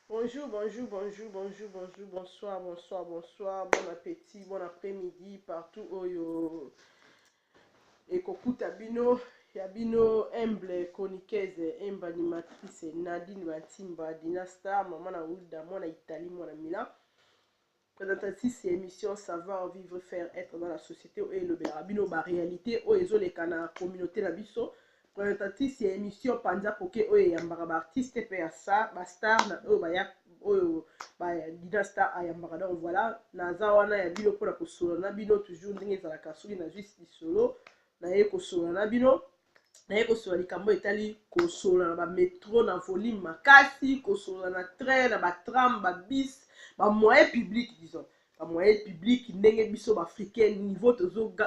Bonjour bonjour bonjour bonjour bonjour bonsoir bonsoir bonsoir bon appétit bon après midi partout oyo ekokuta bino ya bino humble chroniqueuse emba animatrice nadine bantimba dina star mama na wilda mwana italie mwana milan Presentatrice ya emission savoir vivre faire etre dans la societe oyo elobelaka bino ba realite oyo ezoleka na communaute na biso presentatrice ya emission panza poke oyo eyambaka ba artiste mpe ya sa ba star na oyo baya oyo ba dida star ayambaka donc voilà naza wana ya bino mpona kosolola na bino toujours ndenge ezalaka soki nazwi lisolo naye kosolola na bino naye kosolola likambo etali kosolola na bametro na volume makasi kosolola na train na batram babis bamoyen public disons bamoyen public ndenge biso baafricain niveau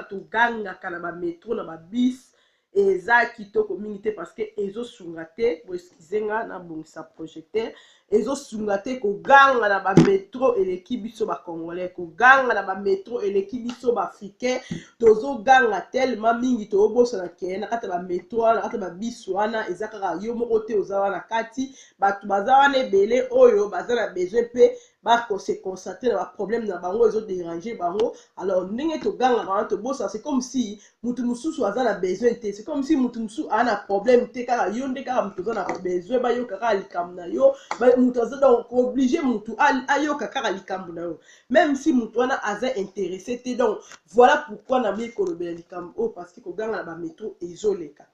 togangaka na bametro na babis eza kitoko mingi te parce que ezosunga te boeskize nga nabongisa projecteur ezosunga te koganga na bametro eleki biso bacongolais koganga na bametro eleki biso baafricain tozoganga telema mingi toobosana ke na kati ya bametro wana na kati ya babisi wana eza kaka yo moko te oza wana kati bato baza wana ebele oyo baza na besoin mpe bakose concentre na baproblème na bango ezoderange bango alors ndenge togangaka wana tobosana se comme si mutu mususu aza na besoin te c'est comme si mutu mususu aza na problème te kaka yo nde kaka mutu oza na besoin bayoka kaka likambo na yo mutu aza donc oblige mutu ayoka kaka likambo na yo même si mutu wana aza intéressé te donc voilà pourquoi naboyi kolobela likambo oyo parce que koganga na bametro ezoleka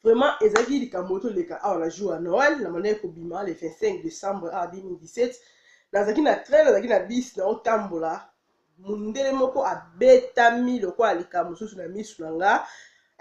Vraiment, ezalaki likambo oyo toleka awa na jour ya Noël, na bandaki kobima le 25 décembre awa 2017. Nazalaki na train, nazalaki na bus, naotambola. Mundele moko abetami lokola likambo mosusu na misu na nga.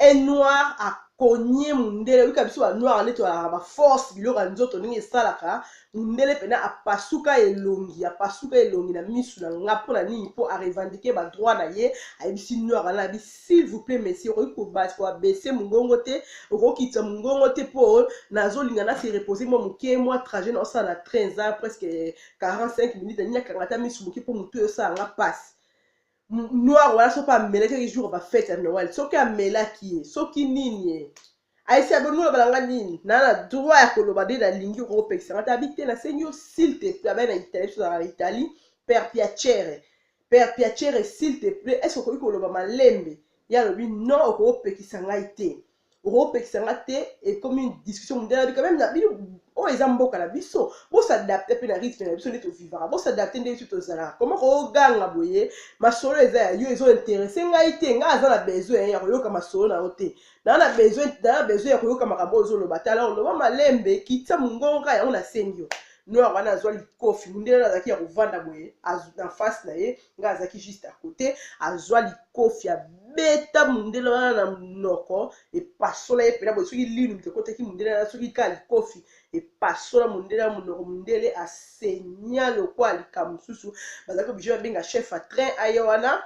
Un noir akonye mundele, oyika biso ba noir nde tozalaka ba force biloko ya nzoto ndenge esalaka. Mundele pena apasuka elongi, apasuka elongi na misu na nga. Mpo na nini? Mpo a revendiquer ba droits na ye. Ayebisi noir wana abi S'il vous plait monsieur okoki kobas ko abaisser mungongo te okokitisa mungongo te po nazolinga na se reposer mwa moke mwa trajet na osala na train eza presque 45 minutes nalingi nakanga ata misu moke po motu esala nga passe noir wana soki amelaki jour ba fete ya noel soki amelaki ye soki nini ye Aïssa Bolingo loba na nga nini na na droit ya koloba nde nalingi okoki opekisa nga te abi te nasengi yo s'il te plaît abai na Italie biso ozalaka na Italie per piacere per piacere s'il te plaît est ce okoki koloba malembe ye alobi non okoki opekisa ngai te okoki opekisa nga te ekomi discussion mondiale abi quand même na bino oyo eza mboka na biso bosadapte mpe na rythme na biso nde tovivaka bosadapte nde biso tozalaka koma koganga boye masolo eza ya yo ezointerese ngai te ngai aza na besoin ya koyoka masolo na yo te naa na besoin naa na besoin ya koyoka makambo oyo ozoloba te alors loba malembe kitisa mongongo kaka yango nasengi yo noir wana azwa likofi mundele wana azalaki ya kovanda boye na face na ye ngai azalaki juste à côté azwa likofi abeta mundele wana na monoko epasola ye mpena boye soki linu moto ekotaki mundele wana soki kaka likofi epasola mundele ya monoko mundele asenia lokola likambo mosusu bazalaki oblige babenga chef à train aye wana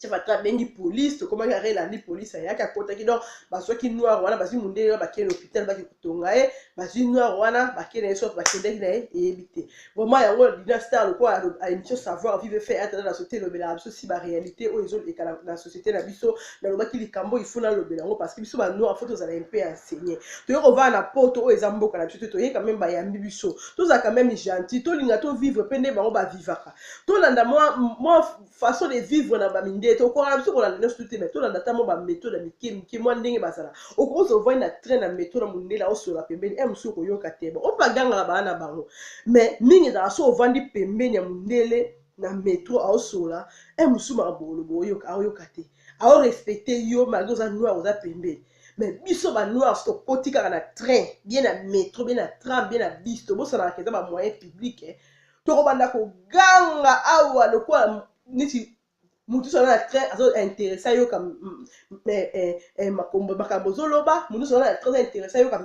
chef atra abengi polise tokomaki arel ali polise ayaki akotaki donc bazwaki noir wana bazwi mondele wana bakei na hôpital baki kotonga ye bazwi noir wana bakei na ye soki bakendaki na ye eyebi te vraiment yango dina star lokola émission savoir vive fe atala na société elobelaka biso si baréalité oyo ezoleka na société na biso nalobaki likambo il faut nalobela yango parce que biso banoir fo tozala mpe enseigné toyei kovanda na poto oyo eza mboka na biso te toyei quand même bayambi biso tozalaka même gentil tolinga tovivre mpe nde bango bavivaka tolanda mwa façon de vivre na bamindele tokokaka biso kolanda nyonso tu te mai tolanda ata mwa bametode ya mike mike mwa ndenge bazala okokosa ovandi na train na meto na mondele aosola pembeni e mosusu okoyoka te ba oyo bagangaka baa na bango mai mingi ezalaka so ovandi pembeni ya mondele na metro aosola e mosusu makambo olobo oyoka aoyoka te aorespecte yo malgre oza noir oza pembeni me biso banoir so tokoti kaka na train bie na metro bie na tram bie na bis tobosanaka eza bamoyen publike eh. tokobanda koganga awa lokola neti moto nyonso aza na train azo interesse ayoka eh, eh, eh, makombo makambo ozoloba moto nyonso aza na train aza interesse ayoka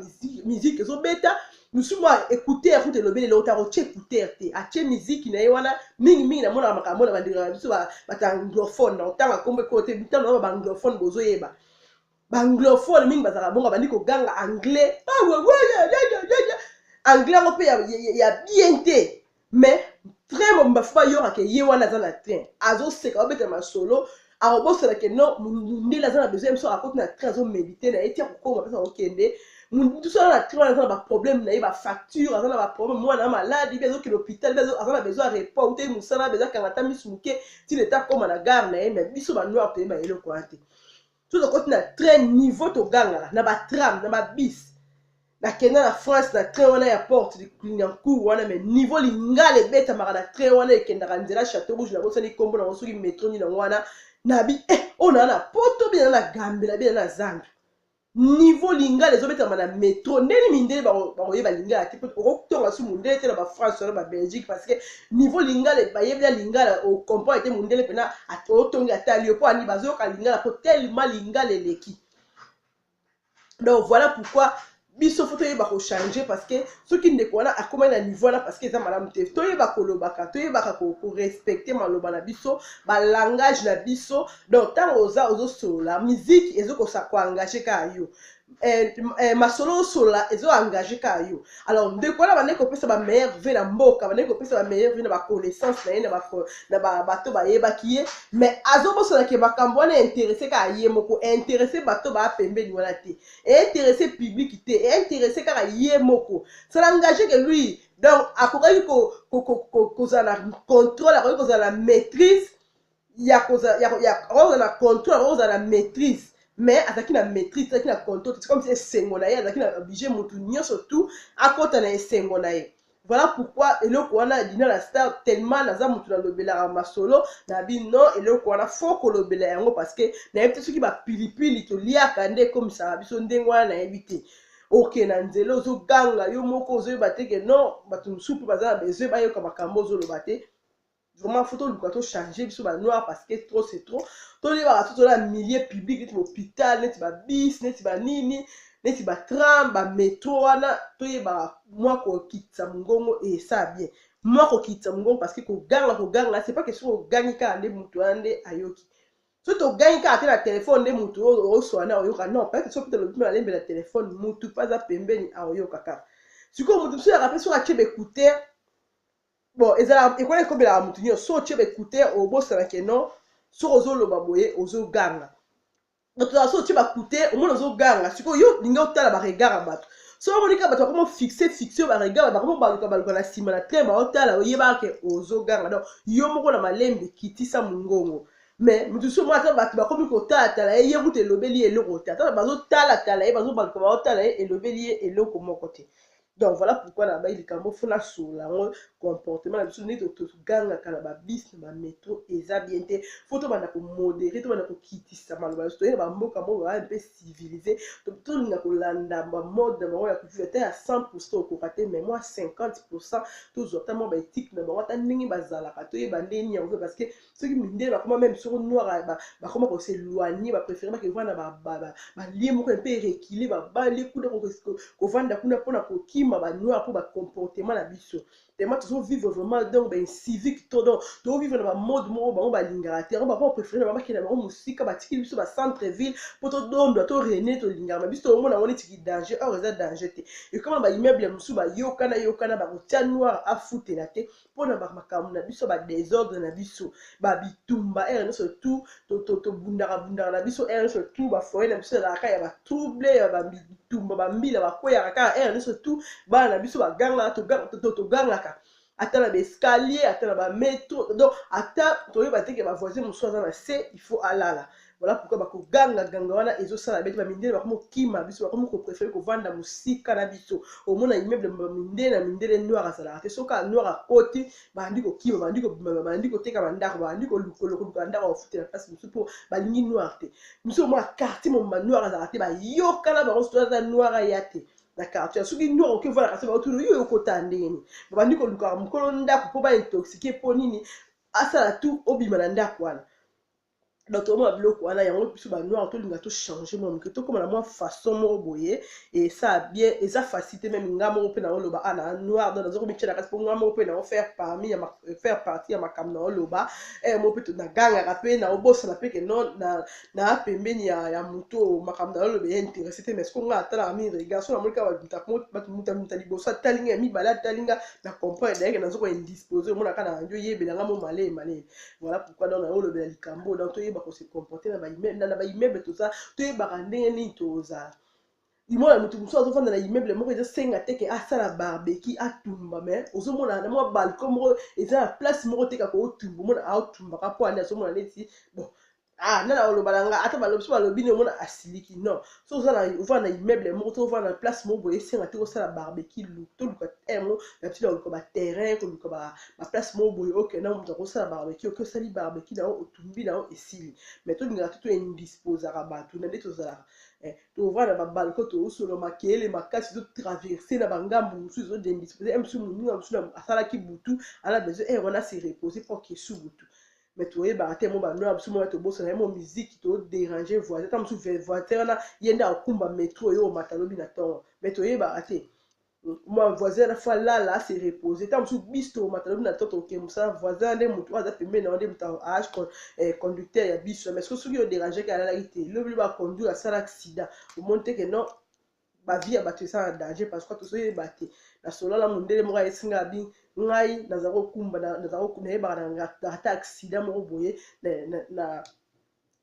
miziki ezobeta mosusu mwa écouteur kuta elobeli eloko te akotye écouteur te atye miziki na ye wana mingi mingi namonaka makambo na bandeko na biso bato anglophone na otanga nkombo ekolo te bitano na baanglophone bozoyeba banglophone mingi bazalaka bongo abandi koganga anglais anglais yango mpe ya bien te mais train mobimba fo bayoka ke ye wana aza na train azoseka babeta masolo akobosana ke no mundele aza na besoin biso akoti na train azomedite na ye ti akokoma mpesa kokende mosusu aza na train wana aza na baproblème na ye bafacture aza na baproblème mwana ya maladi mpe azokende hôpital mpe aza na besoin ya report utei mosala mpe ezakanga ata misu moke ti leta akoma na gare na ye mais biso banoir toyeba eloko wana te soki tokoti na train niveau togangaka na batram na babis nakenda na france na train wana ya porte lignancour wana mai niveau lingala ebetamaka na train wana ekendaka nzela chateau rouge nabosani nkombo nango soki metro nini yango wana nabi e eh, oyo naa na poto bina na gambela bina na zambia niveau lingala ezobetama na metro ndeni mindele bakoyeba lingala te okotonga su mondele te na bafrance wana babelgique parce que Niveau lingala epa yebi ya lingala o comprendre te mundele pena o tongi atali yo po ani bazo yoka lingala po tellement lingala eleki. Donc voilà pourquoi biso fo toyeba kochange parce que soki ndeko wana akomaki na niveau wana parce que eza malamu te toyeba kolobaka toyebaka korespecte maloba na biso balangage na biso donc ntango oza ozosolola miziki ezokosa koengage kaka yo Eh, eh, masolo osolola ezo engage kaka yo alors ndeko wana bandeki kopesa ba meilleur vie na mboka bandeki kopesa ba meilleur vie na baconnaissance na ye na bato bayebaki ye mais azobosola ke makambo wana interesse kaka ye moko interesse bato baa pembeni wana te interesse public te interesse kaka ye moko ça n'engage que lui donc akokaki kozala na contrôle akoki kozala na maîtrise ya kozala ya, ya akozala na contrôle akozala na maîtrise mais azalaki na maîtrise azalaki na contrôle c'est comme si esengo na ye azalaki na oblige motu nyonso tout akota na esengo na ye voilà pourquoi eloko wana dina la star tellement naza motu nalobelaka masolo na bino eloko wana fo kolobela yango parce que nayebi te soki bapilipili toliaka nde ekomisaka biso ndenge wana nayebi te oke na nzela ozoganga yo moko ozoyeba te ke non bato mosusu mpe baza na besoin bayoka makambo ozoloba te vraiment faut toluka tochange biso banoir parce que trop c'est trop toyebaka so tola na milieu public neti bahopital neti babis neti banini neti batram bametro wana toyebaka mwa kokitisa mongongo esala bien mwa kokitisa mongongo parce que koganga koganga c'est pas que soki ogangi kaka nde moto wana nde ayoki so togangi kaka te na telefone nde moto oyo oswana oyoka non peut-être soki mpe tolobi malembe na telefone motu mpe aza pembeni aoyoka kaka sikoyo moto mosusu yaka mpe soki atye baekutere bon ezalaka ekola ekobelaka motu nyonso so otie baekuter obosana ke non soki ozoloba boye ozoganga tozala so otie bakuter omona ozoganga sikoyo yo lingi otala baregard ya bato so omoni kaka bato bakoma fixe fixe yo baregard bakoma obaluka baluka na nsima na te baotala oyebaka ke ozoganga donc yo moko na malembe kitisa mongongo mais moto mosusu omona ata bato bakomi kotalatala ye ye kutu elobeli ye eloko te ata bazotala tala ye bazobaluka baotala ye elobeli ye eloko moko te donc voilà pourquoi na bai likambo fo nasolola yango comportement na biso nde togangaka na babis na bametro eza bien te fo tobanda komodere tobanda kokitisa maloba biso toyena bamboka moko baa mpe civilise tolinga kolanda bamode na bango ya kutu ata ya 100 pourcent okoka te mai mwa 50 pourcent tozwa ata mwa baetike na bango ata ndenge bazalaka toyeba ndenge nini yango mpe parce que soki mindele bakoma meme soko noir bakoma ko se loigner ba préférer ba kevana ba ba ba lieu moko un peu reculer ba bale kuna ko vanda kuna pona ko kima ba noir po ba comportement na biso tellement tozo vivre vraiment donc ba incivique to donc to vivre na ba mode moko bango ba lingaka te yango ba préférer ba bakela bango musika ba tikili biso ba centre ville po to dondwa to rene to lingaka biso to mona ngone tiki danger or eza danger te et comme ba immeuble musu ba yokana yokana ba ko tia noir a futela te mpo na makambo na biso badesordre na biso babitumba ere nyonso tu tobundaka bundaka na biso ere nyonso tu bafoye na biso ezalaka ya batrouble ya babitumba bambila bakweyaka kaka ere nyonso tu bana na biso bagangaka togangaka ata na baescalier ata na bametro donc ata toyeba teke bavoisin mosusu aza na se il faut alala Voilà pourquoi bako ganga ganga wana ezo sala bete ba mindele bako mokima biso bako moko préférer ko vanda musika na biso omona immeuble ba mindele na mindele noir azala te soka noir a koti bandi ko kima bandi ko bimama bandi ko teka bandako bandi ko lukolo ko luka ndako ofute na place musu po balingi noir te musu omona quartier mobimba noir azala te bayoka na bango soki aza noir aya te na quartier soki noir oki vanda kasi baotuna yo okota ndenge nini babandi kolukaka mokolo ndako po ba intoxique po nini asala tu obima na ndako wana donc tokomona biloko wana yango biso banoir tolinga tochange mwa moke tokóma na mwa façon moko boye esaa bien eza facile te meme nga moko mpe naoloba a na noir donc naza komitya na kati mpo nga moko mpe naofaire parmi ya faire partie ya makambo naoloba ee moko mpe nagangaka mpe naobosana mpe ke non na pembeni ya, ya moto oyo makambo naoloba ya interesse te mais sikoyo nga atalaka mingi regard so namoni kaka bato mutamuta liboso atali nga ya mibale atali nga na comprendre dayeke naza ko indispose omonaka na radio yebela nga mo malee malee Voilà pourquoi donc nayo lobela likambo donc toyeba ko se comporter na ba immeuble na ba immeuble tout ça toyebaka ndenge nini tozala imona moto mosusu azofanda na immeuble moko ezosenga te ke asala barbeki atumba mais ozomona na mwa balcon moko eza na place moko te kako otumba omona aotumbaka mpo ane azomona neti bon ah nana oloba na nga ata balobi so balobi nde omona asiliki non so oza na ovanda na immeuble moko to ovanda na place moko boye esenga te kosala barbecue lu toluka terre moko na biso na koluka baterrain koluka baplace moko boye okenda na moto akosala barbecue oke osali barbecue na yo otumbi na yo esili mais tolingaka te toindisposaka bato na nde tozalaka eh, tovanda na babalko toosolo makele makasi totraverse na bangambo mosusu ezodindispose eh, mosusu moninga mosusu asalaki butu ana besoin eh, wana se repose mpo akesu butu mais toyebaka te mo banoya biso mona tobosana ye mo miziki to déranger voisin ta mosusu voisin wana ye nde akumba metro yo omata lobi na ntongo mais toyebaka te mwa voisin wana fo alala ase repose ta mosusu bis tomata lobi na ntongo tokokende mosala voisin nde motu oyo aza pembeni na yo nde motu aage eh, conducteur ya bis wana mais soki yo derangeke alalaki te lobi lobi aconduire asala accident omoni te ke non bavi ya bato eza na danger parce que tozoyeba te nasolola na mondele moko ayesi ngai abi ngai naza kokumba nayebaka na ata aksida moko boye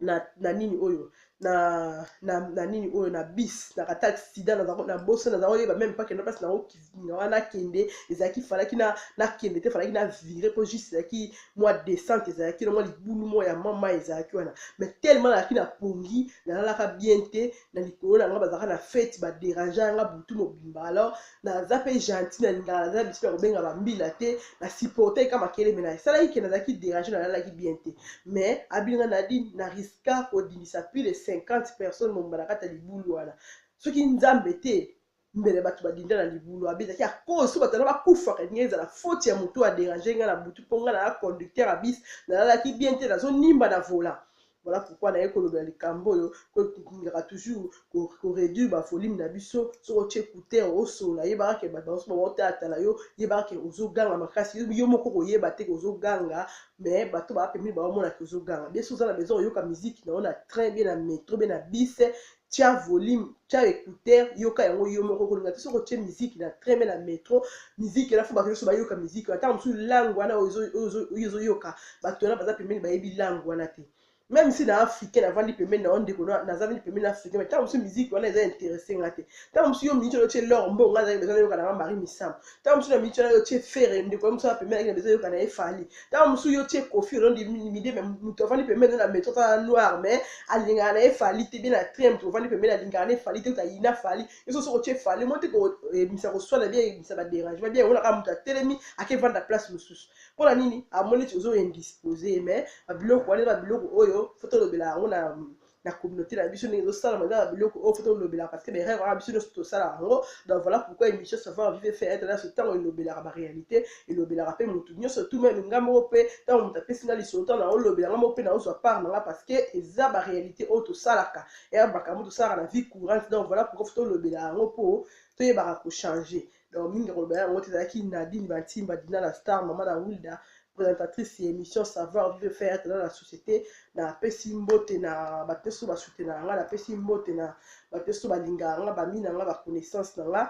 na nini oyo na, na, na nini oyo na bis na kata accident na boso naza koyeba meme pas kenda place nango kivinga wana akende ezalaki falaki na nakende te falaki na vire mpo juste ezalaki mwa descente ezalaki na mwa libulu moko ya mama ezalaki wana mais tellement nalaki na pongi nalalaka bien te na likolo na nga bazalaka na fete baderangea nga butu mobimba alors naza mpe gentil na lingaka naza na bisika ya kobenga bambila te na supportaki ka makele me na esalaki ke nazalaki derange nalalaki bien te mais abinga nadi na riska kodimisa plus de 50 personnes mobimba na kati ya libulu wana soki nzambe te mbele bato badinda na libulu abi ezalaki ya cause so bato wana bakufaka elingi ezala faute ya motu aderange ngai na butu mpo ngai naza conducteur ya bis nalalaki bien te nazonimba na vola voilà pourquoi naye kolobela likambo oyo kolingaka toujours koreduire bavolume na biso soki otie couteur osolola yebaka ke bato banso baotalatala yo yebaka ke ozoganga makasi yo moko koyeba te ke ozoganga mais bato baa pembeni baomona ke ozoganga bien soki oza na besoin oyoka miziki na yo na train bie na metro bie na bise tia volume tia ecouteur yoka yango yo moko kolinga te soki otie miziki na train me na metro miziki wana fo bato nyonso bayoka miziki wana ntango mosusu langue wana oyo ezoyoka bato wana baza pembeni bayebi langue wana te même si na africain navandi pembeni na yo ndeko nazavandi pembeni na africain me ntango mosusu miziki wana eza interesse nga te ntango mosusu yo miniti oyotie lor mbongo azali eza nayoka nanga marie misamu ntango mosusu na miniti wana yo tie fere ndeko ya mosusu na pembeni na bezo yoka na ye fali ntango mosusu yo tie kofi olondi midi me moto avandi pembeni na metro tala noir me alingaka na ye fali te bie na train moto ovandi pembeni alingaka na ye fali te oto ayina fali yo soso kotie fali mo te koyebisa koswana bie yebisa baderangement bie emonaka moto atelemi akevanda place mosusu mpo na nini amoni ti ozo indispose ye me babiloko wana babiloko oyo fo tolobela yango na na communauté na biso ndenge ezosalama eza na biloko oyo fo tolobelaka parce que baerreur wana biso nyonso tosala yango donc voilà pourquoi émission savoir vive fait être nyonso ntango elobelaka baréalité elobelaka mpe motu nyonso tout meme nga moko mpe ntango moto apesi nga lisolo ntango naolobela nga moko mpe naozwa part na nga parce que eza baréalité oyo tosalaka eya makambo tosalaka na vie courante donc voilà pourquoi fo tolobela yango mpo toyebaka kochange donc mingi akoloba yango te ezalaki nadine bantimba dina la star mama na wilda présentatrice ya émission savoir vivre faire tena na société napesi mbote na bato nyonso basutenaka nga napesi mbote na bato nyonso balingaka nga bami na nga baconnaissance na nga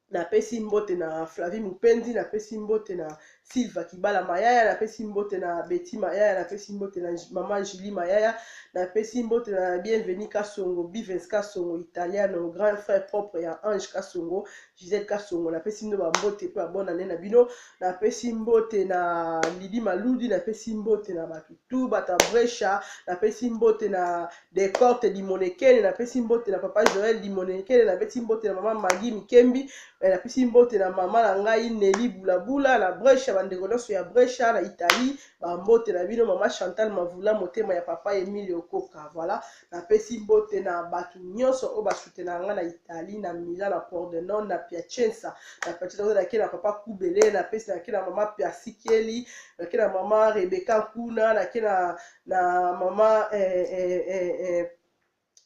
napesi mbote na flavi mopendi napesi mbote na Silva Kibala Mayaya, napesi mbote na Betty Mayaya, napesi mbote na maman Julie Mayaya, napesi mbote na Bienvenue Kasongo, Bivens Kasongo, Italiano, grand frère propre ya Ange Kasongo, Gisèle Kasongo, napesi bino ba mbote pe ba bonne année na bino, napesi mbote na Lydie Maludi, napesi mbote na bato tout, bato ya Brescia, napesi mbote na Decorte Limonekele napesi mbote na papa Joel Limonekele napesi mbote na mama Magi Mikembi eh, napesi mbote na mama na ngai Neli Bulabula na Brescia bandeko nyonso ya Brescia na Italie bambote na bino mama Chantal Mavula motema ya papa Emilio Koka voilà napesi mbote na bato nyonso oyo basutena nga na Italie na Milan na Pordenone na Piacenza na Piacenza nake na papa Kubele napesi nake na mama Persikeli nake na mama Rebecca Kuna nake na na mama eh, eh, eh, eh.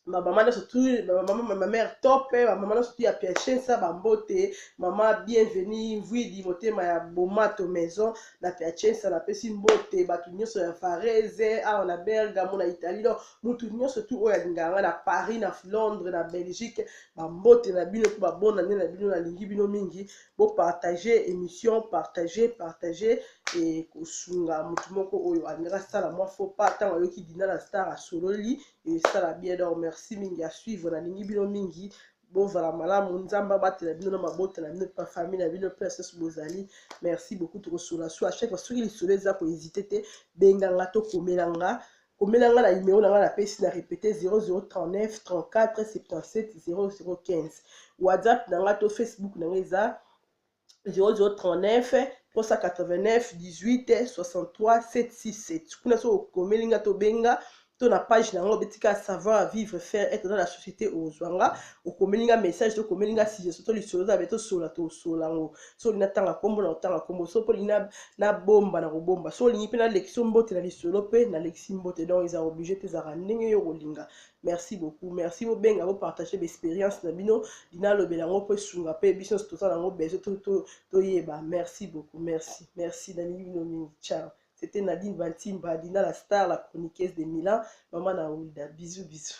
bamama nyonso tu bamama mère top bamama nyonso tu ya piachensa bambote mama bienvenu mvwidi motema ya bomato maison na piachensa napesi mbote bato nyonso ya varese awa na bergamo na italie donc motu nyonso tu oyo alingaka ngai na paris na londres na belgique bambote na bino mpe babonane na bino nalingi bino mingi bo partager emission partager partager et kosunga motu moko oyo alingaki asala mwa faux pas ntango ayoki dina la star asololi esala bien donc merci mingi ya suivre nalingi bino mingi bozala malamu nzambe abatela bino na mabota na bino mpe bafamille na bino mpe asusu bozali merci beaucoup tokosola so à chaque fois soki lisolo eza kohésite te benganga tokomela nga Komela nga na numero na nga na pesi na repete 0039 34 77 0015 whatsapp na nga to facebook na nga eza 0039 389 18 63 767 kuna soki okomeli nga tobenga to na page na yango obetika savoir vivre faire être dans la société ozwa nga okomeli nga message to okomeli nga suggestion to lisolo zabe tosolola tosolola yango so olingi natanga nkombo na kotanga nkombo so mpe olingi nabomba na kobomba so olingi mpe nalekisi yo mbote na lisolo mpe nalekisi mbote donc eza oblige te ezalaka ndenge yo okolinga merci beaucoup merci bobenga bopartage baexpérience na bino linalobela yango mpo esunga mpe biso nyonso toza na yango besoin toyeba merci beaucoup merci merci nalingi bino mingi ciao c'était nadine bantimba dina la star la chroniqueuse de milan mama na wilda bisous bisous